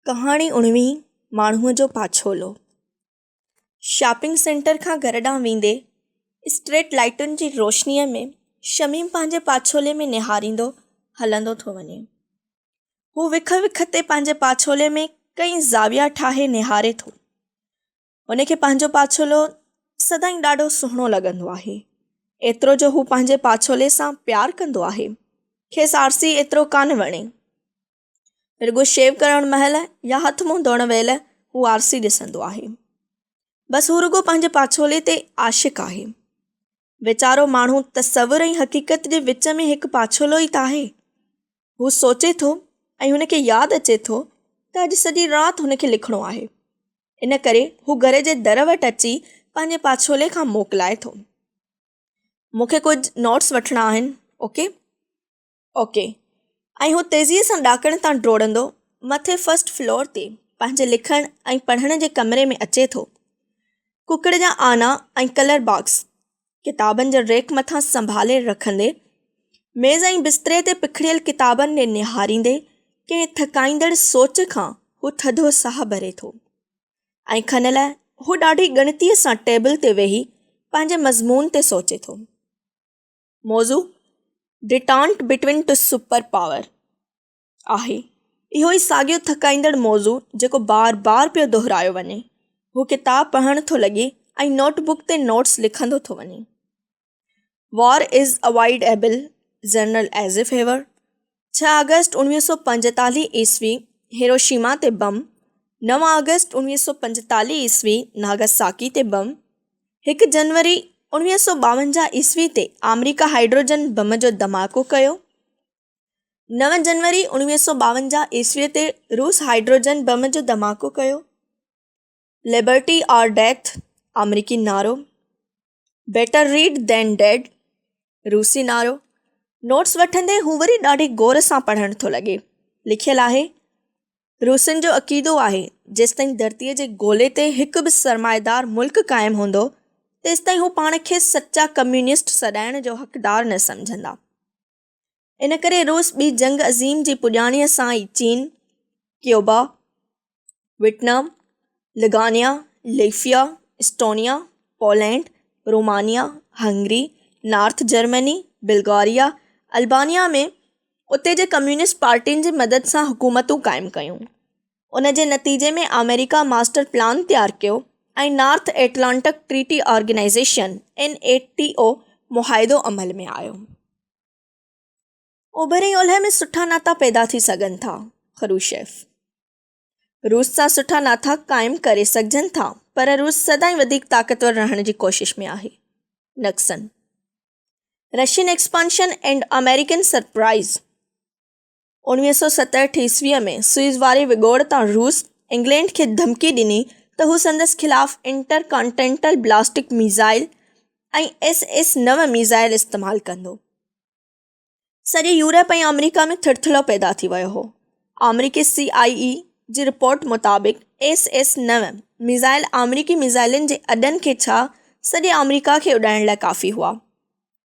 ڪهاڻي اڻويهين ماڻهوء جو پاڇولو شاپنگ سينٽر کان گهر ڏانهن ويندي اسٽريٽ لائيٽن جي روشنيء ۾ شميم پنهنجي پاڇولي ۾ نهاريندو هلندو ٿو وڃي هو وک وک تي پنهنجي پاڇولي ۾ ڪئين زاويا ٺاهي نهاري ٿو هن کي پنهنجو پاڇولو سدائين ڏاڍو سهڻو لڳندو آهي ايترو جو هو پنهنجي پاڇولي سان پيار ڪندو آهي کيس آرسي ايترو ڪا نه وڻي رڳو شيو ڪرڻ مهل يا هٿ منهن ڌوئڻ ويل هو آرسي ڏسندو آهي بس هو رڳو پنهنجي پاڇولي تي عاشق آهي ويچارو ماڻهو تصور ۽ حقيقت جي وچ ۾ هڪ پاڇولو ئي ته آهي. هو سوچي ٿو ۽ هن کي ياد اچي ٿو ته اڄ سڄي رات هن کي لکڻو آهي. ان ڪري هو گهر جي در وٽ اچي پنهنجي پاڇولي کان موڪلائي ٿو. مون کي ڪجهه نوٽس وٺڻا آهن. اوڪي. اوڪي. ۽ هو تيزيء سان ڏاڪڻ تان ڊوڙندو مٿي فرسٽ فلور تي پنهنجي لکڻ ۽ پڙهڻ جي ڪمري ۾ اچي ٿو. ڪڪڙ جا آنا ۽ ڪلر باڪس ڪتابن جي ريڪ مٿان سنڀالي رکندي، ميز ۽ بستري تي پکڙيل ڪتابن ڏي نهاريندي ڪنهن ٿڪائيندڙ سوچ کان هو ٿڌو ساهه ڀري ٿو. ۽ کن لاء هو ڏاڍي ڳڻتيء سان ٽيبل تي ويهي پنهنجي مضمون تي سوچي ٿو. موضوع detente between two super power آهي. اهو ئي ساڳيو ٿڪائيندڙ موضوع جيڪو بار بار پيو دهرايو وڃي. هو ڪتاب پڙهڻ ٿو لڳي ۽ نوٽ بڪ تي نوٽس لکندو ٿو وڃي. War is avoidable General Eisenhower ڇهه آگسٽ اڻويهه سؤ پنجيتاليهه عيسوي هيروشيما تي بم، نو آگسٽ اڻويهه سؤ پنجيتاليهه عيسوي ناگاساڪي تي بم، هڪ جنوري اڻويهه سؤ ٻاونجاهه عيسوي تي آمريڪا هائيڊروجن بم جو ڌماڪو ڪيو، نو جنوري اڻويهه سؤ ٻاونجاهه عيسوي تي روس هائيڊروجن بم جو ڌماڪو ڪيو، لبرٽي آر ڊيٿ آمريڪي نعرو بيٽر ريڊ دين ڊيڊ روسي نعرو نوٽس وٺندي هو وري ڏاڍي غور سان پڙهڻ ٿو لڳي لکيل آهي روسين جو عقيدو آهي جيستائين ڌرتيء جي گولي تي هڪ به سرمائيدار ملڪ قائم هوندو تيستائين هو پاڻ کي سچا ڪميونسٽ سڏائڻ جو حقدار نه سمجهندا ان ڪري روس ٻي جنگ عظيم جي پڄاڻيء سان ئي چين، ڪيوبا، ويٽنام، لگانيا، ليفيا، Estonia, Poland, Romania, Hungary, North Germany, Bulgaria, Albania ۾ اتي جي ڪميونسٽ پارٽين جي مدد سان حڪومتون قائم ڪيون. ان جي نتيجي ۾ آمريڪا ماسٽر پلان تيار ڪيو ۽ North Atlantic Treaty Organisation, NATO، معاهدو عمل ۾ آيو. اوڀر ۽ اولهه ۾ سٺا ناتا پيدا ٿي سگهن ٿا، خروشيف. روس سان سٺا ناتا قائم ڪري سگهجن ٿا، پر روس سدائين وڌيڪ طاقتور رهڻ جي ڪوشش ۾ آهي، Nixon. Russian expansion and American surprise. انويهه سؤ ستهٺ عيسويء ۾ سوئيز واري وڳوڙ تان روس انگلينڊ کي ڌمڪي ڏني ته هو سندس خلاف intercontinental ballistic missile ۽ S S نو ميزائل استعمال ڪندو. سڄي يورپ ۽ آمريڪا ۾ ٿرٿلو پيدا ٿي ويو هو. آمريڪي سي آء اي جي رپورٽ مطابق ايس ايس نو ميزائل آمريڪي ميزائلن جي اڏن کي ڇا سڄي آمريڪا کي اڏائڻ لاء ڪافي هئا.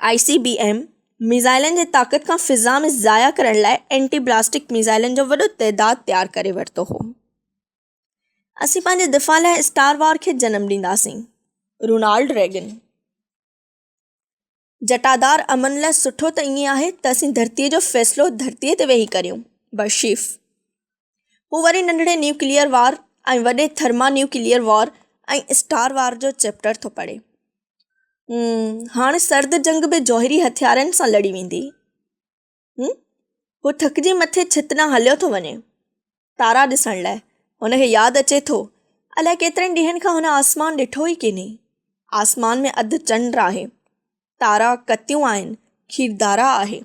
آء سي بي ايم ميزائلن جي طاقت کان فضا ۾ ضايع ڪرڻ لاء اينٽي بلاسٽڪ ميزائلن جو وڏو تعداد تيار ڪري ورتو هو اسين پنهنجي دفاع لاء اسٽار وار کي جنم ڏينداسين رونالڊ ريگن جٽادار امن لاء سٺو ته ائين آهي ته اسين ڌرتيء جو فيصلو ڌرتيء تي ويهي ڪريون برشيف پوء وري ننڍڙي نيوڪليئر وار ۽ وڏي thermonuclear war ۽ star war جو چيپٽر ٿو پڙهي. امم هاڻ سرد جنگ به جوهري هٿيارن سان لڙي ويندي. امم هو ٿڪجي مٿي ڇت ڏانهن هليو ٿو وڃي تارا ڏسڻ لاء. هن کي ياد اچي ٿو الائي ڪيترن ڏينهن کان هن آسمان ڏٺو ئي ڪينهي. آسمان ۾ اڌ چنڊ آهي. تارا ڪتيون آهن، کيردارا آهي.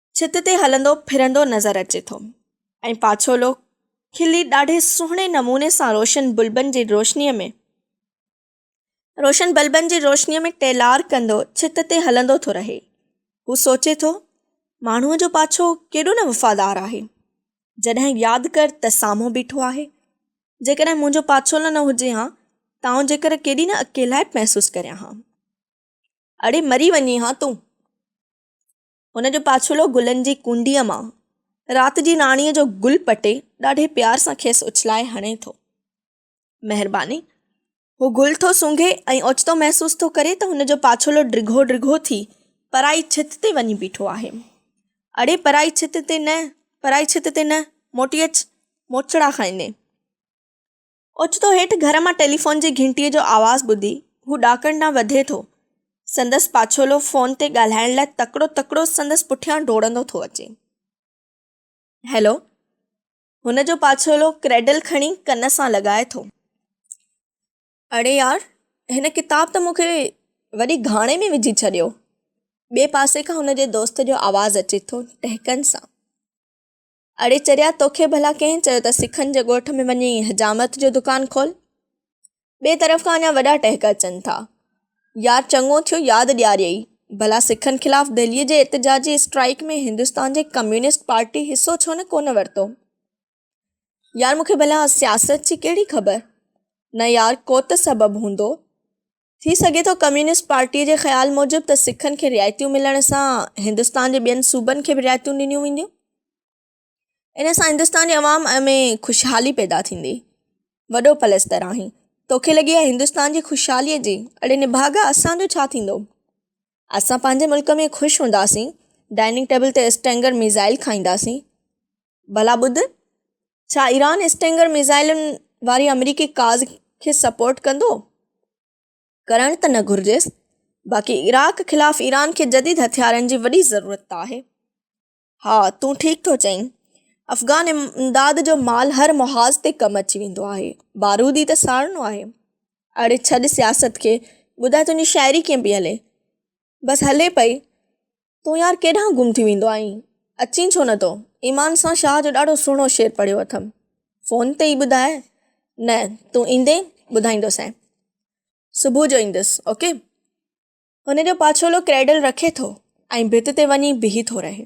ڇت تي هلندو ڦرندو نظر اچي ٿو ۽ پاڇولو کلي ڏاڍي سهڻي نموني سان روشن بلبن جي روشنيء ۾ روشن بلبن جي روشنيء ۾ ٽيلار ڪندو ڇت تي هلندو ٿو رهي. هو سوچي ٿو، ماڻهوء جو پاڇو ڪيڏو نه وفادار آهي. جڏهن ياد ڪر ته سامهون بيٺو آهي. جيڪڏهن منهنجو پاڇولو نه هجي هان ته آئون جيڪر ڪيڏي نه اڪيلائپ محسوس ڪريان هان. اڙي مري وڃي هان تون. هن جو پاڇولو گلن جي ڪونڊيء مان رات جي ناڻيء جو گل پٽي ڏاڍي پيار سان کيس اڇلائي هڻي ٿو. مهرباني. هو گل ٿو سونگهي ۽ اوچتو محسوس ٿو ڪري ته هن جو پاڇولو ڊگهو ڊگهو ٿي پرائي ڇت تي وڃي بيٺو آهي. اڙي پرائي ڇت تي نه، پرائي ڇت تي نه، موٽي اچ، موچڙا کائيندين. اوچتو هيٺ گهر مان ٽيليفون جي گهنٽيء جو آواز ٻڌي هو ڏاڪڻ ڏانهن وڌي ٿو. سندس پاڇولو فون تي ڳالهائڻ لاء تڪڙو تڪڙو سندس پٺيان ڊوڙندو ٿو اچي. هيلو! هن جو پاڇولو ڪريڊل کڻي ڪن سان لڳائي ٿو. اڙي يار! هن ڪتاب ته مون کي وڏي گهاڻي ۾ وجهي ڇڏيو. ٻئي پاسي کان هن جي دوست جو آواز اچي ٿو، ٽهڪن سان. اڙي چريا توکي ڀلا ڪنهن چيو ته سکن جي ڳوٺ ۾ وڃي حجامت جو دڪان کول؟ ٻئي طرف کان اڃا وڏا ٽهڪ اچن ٿا. يار چڱو ٿيو ياد ڏياريئي. ڀلا سکن خلاف دهليء جي احتجاجي اسٽرائيڪ ۾ هندستان جي ڪميونسٽ پارٽي حصو ڇو نه ڪونه ورتو؟ يار مون کي ڀلا سياست جي ڪهڙي خبر؟ نه يار ڪو ته سبب هوندو. ٿي سگهي ٿو ڪميونسٽ پارٽيء جي خيال موجب ته سکن کي رعايتيون ملڻ سان هندستان جي ٻين صوبن کي به رعايتون ڏنيون وينديون. ان سان هندستان جي عوام ۾ خوشحالي پيدا ٿيندي. وڏو پلستر آهين. توکي لڳي آهي هندستان جي خوشحاليء جي؟ اڙي نڀاڳا اسان جو ڇا ٿيندو؟ اسان پنهنجي ملڪ ۾ خوش هونداسين، ڊائننگ ٽيبل تي اسٽينگر ميزائل کائينداسين. ڀلا ٻڌ، ڇا ايران اسٽنگر ميزائلن واري آمريڪي ڪاز کي سپورٽ ڪندو؟ ڪرڻ ته نه گهرجيس، باقي عراق خلاف ايران کي جديد هٿيارن جي وڏي ضرورت ته آهي. ها تون ٺيڪ ٿو چئين، افغان امداد جو مال هر محاذ تي ڪم اچي ويندو آهي، بارود ئي ته ساڙڻو آهي. اڙي ڇڏ سياست کي، ٻڌاء تنهنجي شاعري ڪيئن پئي هلي؟ بس هلي پئي، تون يار ڪيڏانهن گم ٿي ويندو آهين، اچين ڇو نه ٿو؟ ايمان سان شاهه جو ڏاڍو سهڻو شعر پڙهيو اٿم. فون تي ئي ٻڌاء. نه، تون ايندين، ٻڌائيندوسين. صبح جو ايندس، اوڪي. هن جو پاڇولو ڪريڊل رکي ٿو ۽ ڀت تي وڃي بيهي ٿو رهي.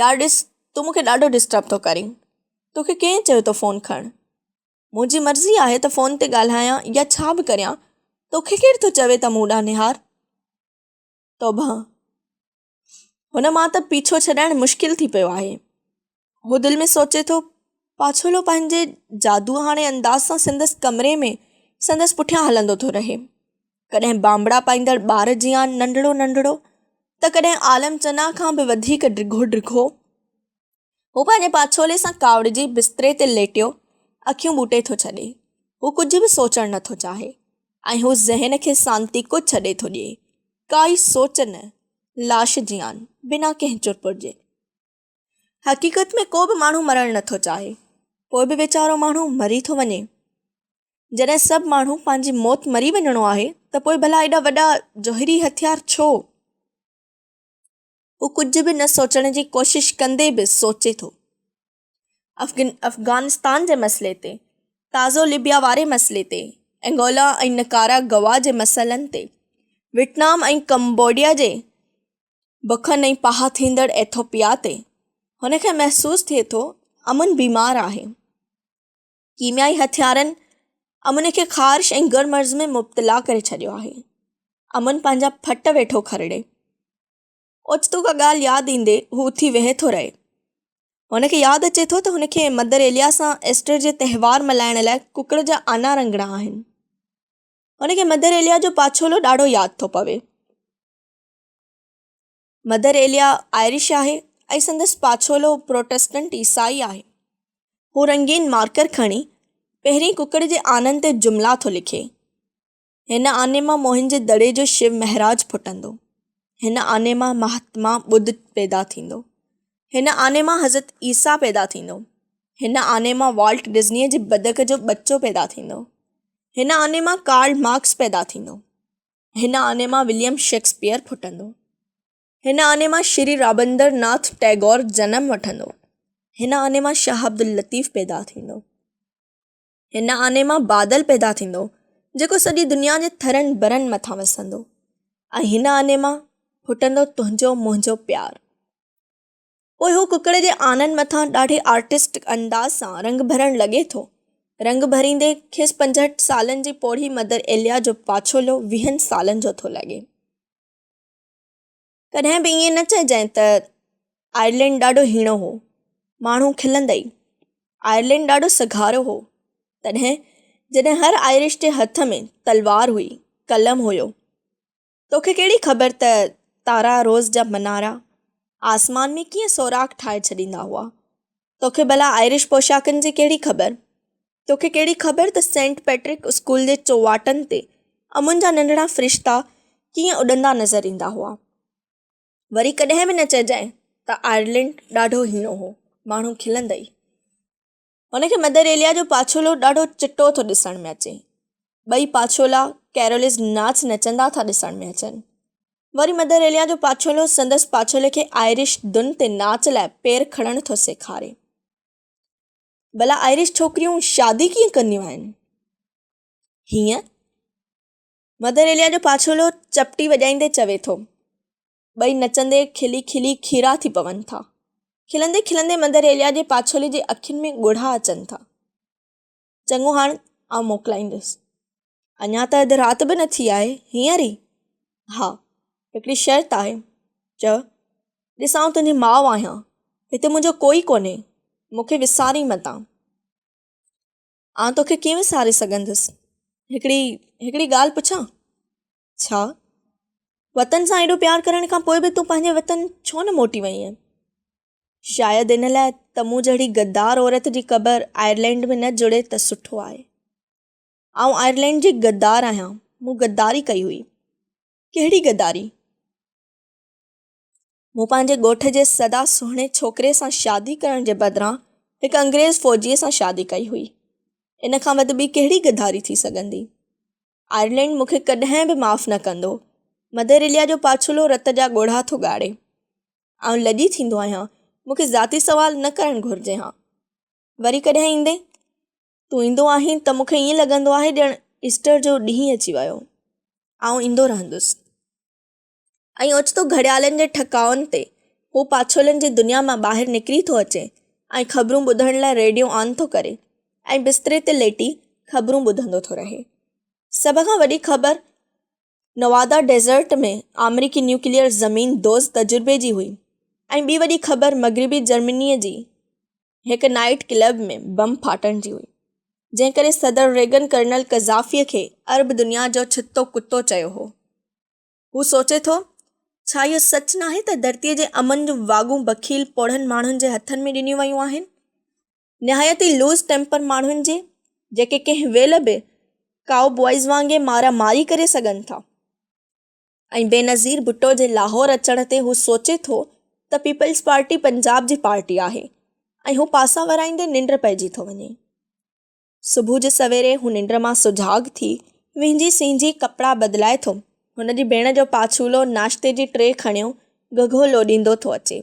يار ڏس، تون مون کي ڏاڍو ڊسٽرب ٿو ڪرين. توکي ڪنهن چيو ٿو فون کڻ؟ منهنجي مرضي آهي ته فون تي ڳالهايان يا ڇا به ڪريان، توکي ڪير ٿو چوي ته مون ڏانهن نهار. توبهه! هن مان ته پيڇو ڇڏائڻ مشڪل ٿي پيو آهي. هو دل ۾ سوچي ٿو. پاڇولو پنهنجي جادوهاڻي انداز سان سندس ڪمري ۾ سندس پٺيان هلندو ٿو رهي. ڪڏهن بانبڙا پائيندڙ ٻار جيان ننڍڙو ننڍڙو ته ڪڏهن عالم چنا کان به وڌيڪ ڊگهو ڊگهو. هو پنهنجي پاڇولي سان ڪاوڙجي بستري تي ليٽيو اکيون ٻوٽي ٿو ڇڏي. هو ڪجهه به سوچڻ نه ٿو چاهي ۽ هو ذهن کي سانتي ڪو ڇڏي ٿو ڏئي. ڪائي سوچ نه. لاش جيان، بنا ڪنهن چرپر جي. حقيقت ۾ ڪو به ماڻهو مرڻ نه ٿو چاهي. پوء به ويچارو ماڻهو مري ٿو وڃي. جڏهن سڀ ماڻهو پنهنجي موت مري وڃڻو آهي ته پوء ڀلا ايڏا وڏا جوهري هٿيار ڇو؟ هو ڪجهه به نه سوچڻ جي ڪوشش ڪندي به سوچي ٿو. افغانستان جي مسئلي تي، تازو ليبيا واري مسئلي تي، انگولا ۽ نڪارا گوا جي مسئلن تي، ويٽنام ۽ ڪمبوڊيا جي بکن ۽ پاهه ٿيندڙ ايٿوپيا تي، هن کي محسوس ٿئي ٿو امن بيمار آهي. ڪيميائي هٿيارن امن کي خارش ۽ گر مرض ۾ مبتلا ڪري ڇڏيو آهي. امن پنهنجا ڦٽ ويٺو کرڙي. اوچتو ڪا ڳالهه ياد ايندي هو اٿي ويهي ٿو رهي. هن کي ياد اچي ٿو ته هن کي مدر ايليا سان ايسٽر جي تهوار ملهائڻ لاء ڪڪڙ جا آنا رنگڻا آهن. هن کي مدر ايليا جو پاڇولو ڏاڍو ياد ٿو پوي. مدر ايليا آئرش آهي ۽ سندس پاڇولو پروٽسٽنٽ عيسائي آهي. هو رنگين مارڪر کڻي پهرين ڪڪڙ جي آنن تي جملا ٿو لکي، هن آني مان موهن جي دڙي جو شو مهراج ڦٽندو، هن آني مان مهاتما ٻڌ پيدا ٿيندو، هن آني مان حضرت عيسيٰ پيدا ٿيندو، هن آني مان والٽ ڊزنيء جي بدڪ جو ٻچو پيدا ٿيندو، هن آني مان ڪارل مارڪس پيدا ٿيندو. هن آني مان وليم شيڪسپيئر ڦٽندو. هن آني مان شري رابندر ناٿ ٽئگور جنم وٺندو. هن آني مان شاهه عبداللطيف پيدا ٿيندو. هن آني مان بادل پيدا ٿيندو جيڪو سڄي دنيا جي ٿرن برن مٿان وسندو ۽ هن آني مان ڦٽندو تنهنجو منهنجو پيار. پوء هو ڪڪڙ جي آنن مٿان ڏاڍي آرٽسٽڪ انداز سان رنگ ڀرڻ لڳي ٿو. رنگ ڀريندي کيس پنجهٺ سالن جي پوڙهي مدر ايليا جو پاڇولو ويهن سالن جو ٿو لڳي. ڪڏهن به ائين نه چئجانء ته آئرلينڊ ڏاڍو هيڻو هو. ماڻهو کلندئي. آئرلينڊ ڏاڍو سگهارو هو. تڏهن جڏهن هر آئرش جي هٿ ۾ تلوار هئي، قلم هيو. توکي ڪهڙي خبر ته تارا روز جا منارا آسمان ۾ ڪيئن سوراخ ٺاهي ڇڏيندا هئا. توکي ڀلا آئرش پوشاڪن جي ڪهڙي خبر؟ توکي ڪهڙي خبر ته سينٽ پيٽرڪ اسڪول جي چوواٽن تي امن جا ننڍڙا فرشتا ڪيئن اڏندا نظر ايندا هئا. وري ڪڏهن به نه چئجانء ته آئرلينڊ ڏاڍو هيڻو هو. ماڻهو کلندئي. هن کي مدر ايليا جو پاڇولو ڏاڍو چٽو ٿو ڏسڻ ۾ اچي. ٻئي پاڇولا ڪيرولز ناچ نچندا ٿا ڏسڻ ۾ اچن. وري مدر ايليا جو پاڇولو سندس پاڇولي کي آئرش ڌن تي ناچ لاء پير کڻڻ ٿو سيکاري. ڀلا آئرش ڇوڪريون شادي ڪيئن ڪنديون آهن؟ هيئن، مدر ايليا جو پاڇولو چپٽي وڄائيندي چوي ٿو. ٻئي نچندي کلي کلي کيرا ٿي پون ٿا. کلندي کلندي مندريليا جي پاڇولي جي اکين ۾ ڳوڙها اچن ٿا. چڱو هاڻ آئون موڪلائيندس. اڃا ته اڌ رات به نه ٿي آهي، هينئر ئي؟ ها، هڪڙي شرط آهي. چئه، ڏس آئون تنهنجي ماء آهيان، هتي منهنجو ڪوئي ڪونهي، مون کي وسارين متان. آئون توکي ڪيئن وساري سگهندس. هڪڙي هڪڙي ڳالهه پڇان؟ ڇا؟ وطن سان ايڏو پيار ڪرڻ کان پوء به تون پنهنجي وطن ڇو نه موٽي وئين آهين؟ شايد ان لاء ته مون جهڙي غدار عورت جي قبر آئرلينڊ ۾ نه جڙي ته سٺو آهي. آئون آئرلينڊ جي غدار آهيان، مون غداري ڪئي هئي. ڪهڙي غداري؟ مون پنهنجي ڳوٺ جي سدا سهڻي ڇوڪري سان شادي ڪرڻ جي بدران هڪ انگريز فوجيء سان شادي ڪئي هئي. ان کان وڌ ٻي ڪهڙي غداري ٿي سگهندي؟ آئرلينڊ مون کي ڪڏهن به معاف نه ڪندو. مڌر اليا جو پاڇلو رت جا ڳوڙها ٿو ڳاڙي. آئون لڄي ٿيندو آهيان. مون کي ذاتي سوال نه ڪرڻ گهرجي ها. وري ڪڏهن ايندين؟ تون ايندو آهين ته مون کي ائين لڳندو آهي ڄڻ ايسٽر جو ڏينهن اچي ويو. آئون ايندو رهندس. ۽ اوچتو گهڙيالن جي ٺڪائن تي هو پاڇولن جي دنيا مان ٻاهر نڪري ٿو اچي ۽ خبرون ٻڌڻ لاء ريڊيو آن ٿو ڪري ۽ بستري تي ليٽي خبرون ٻڌندو ٿو رهي. سڀ کان وڏي خبر نوادا ڊيزرٽ ۾ آمريڪي نيوڪليئر زمين دوز تجربي جي هئي ۽ ٻي وڏي خبر مغربي جرمنيء جي هڪ نائيٽ ڪلب ۾ بم ڦاٽڻ جي هئي، جنهن ڪري صدر ريگن ڪرنل قذافيء کي عرب دنيا جو ڇتو ڪتو چيو هو. هو سوچي ٿو، ڇا اهو سچ ناهي ته ڌرتيء جي امن جون واڳون بخيل پوڙهن ماڻهن جي هٿن ۾ ڏنيون ويون آهن. نهايت ئي لوز ٽيمپر ماڻهن جي، جيڪي ڪنهن ويل به ڪائو بوائز وانگي مارا ماري ڪري سگهن ٿا. ۽ بينظير ڀٽو جي لاهور اچڻ تي هو سوچي ٿو ته پيپلز پارٽي پنجاب جي پارٽي آهي ۽ هو پاسا ورائيندي ننڊ پئجي ٿو وڃي. صبح جو سويري هو ننڊ مان سجاڳ ٿي وينجهي سينجهي ڪپڙا بدلائي ٿو. هن جي ڀيڻ جو پاڇولو ناشتي جي ٽري کڻيو گهگهو لوڏيندو ٿو اچي.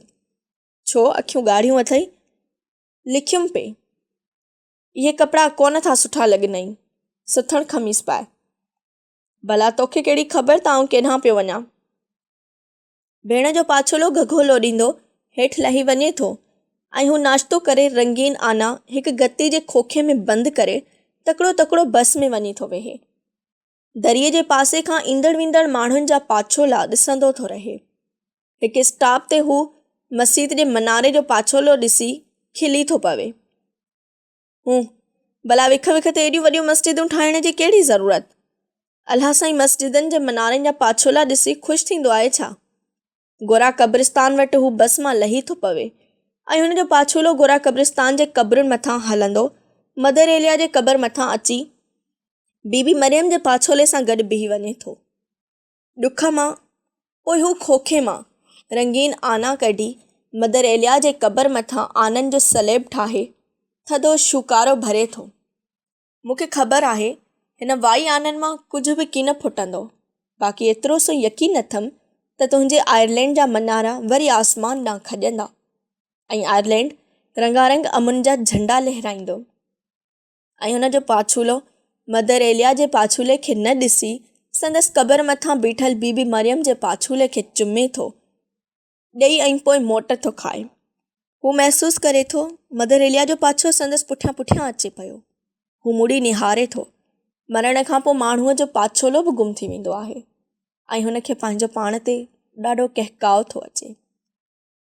ڇو اکيون ڳاڙهيون اٿئي؟ لکيم پئي. اهي ڪپڙا ڪونه ٿا سٺا لڳنئي. سٿڻ خميس پاء. ڀلا توکي ڪهڙي خبر ته آئون ڪيڏانهن پيو وڃان. ڀيڻ جو پاڇولو گهگهو لوڏيندو هيٺ لهي وڃي ٿو ۽ هو ناشتو ڪري رنگين آنا هڪ گتي جي کوکي ۾ بند ڪري تڪڙو تڪڙو بس ۾ وڃي ٿو ويهي. دريء جي پاسي کان ايندڙ ويندڙ ماڻهن جا پاڇولا ڏسندو ٿو رهي. هڪ اسٽاپ تي هو مسيت جي مناري جو پاڇولو ڏسي کلي ٿو پوي. هون، ڀلا وک وک تي ايڏيون وڏيون مسجدون ٺاهڻ جي ڪهڙي ضرورت؟ الهه سائين مسجدن جي منارن جا پاڇولا ڏسي خوش ٿيندو آهي ڇا؟ گورا قبرستان وٽ هو بس مان لهي ٿو پوي ۽ هن جو پاڇولو گورا قبرستان جي قبرن مٿان هلندو مدر ايليا جي قبر مٿان اچي بي بي مريم جي پاڇولي سان گڏ بيهي وڃي ٿو. ڏک مان، پوء هو کوکي مان رنگين آنا ڪڍي، مدر ايليا جي قبر مٿان آنن جو سليب ٺاهي، ٿڌو شوڪارو ڀري ٿو. مون کي خبر آهي، هن وائي آنن مان ڪجهه به ڪين ڦٽندو، باقي ايترو سو يقين اٿم ته تنهنجي آئرلينڊ جا منارا وري آسمان ڏانهن کڄندا، ۽ آئرلينڊ رنگارنگ امن جا جهنڊا لهرائيندو. ۽ ان جو پاڇولو مدر ايليا جي پاڇولي کي نه ڏسي سندس قبر مٿان بيٺل بي بي مريم جي پاڇولي کي چمي ٿو ڏئي ۽ پوء موٽ ٿو کائي. هو محسوس ڪري ٿو مدر ايليا جو پاڇو سندس پٺيان پٺيان اچي پيو. هو مڙي نهاري ٿو. مرڻ کان پوء ماڻهوء جو پاڇولو به گم ٿي ويندو آهي ۽ هن کي پنهنجو پاڻ تي ڏاڍو ڪهڪاء ٿو اچي.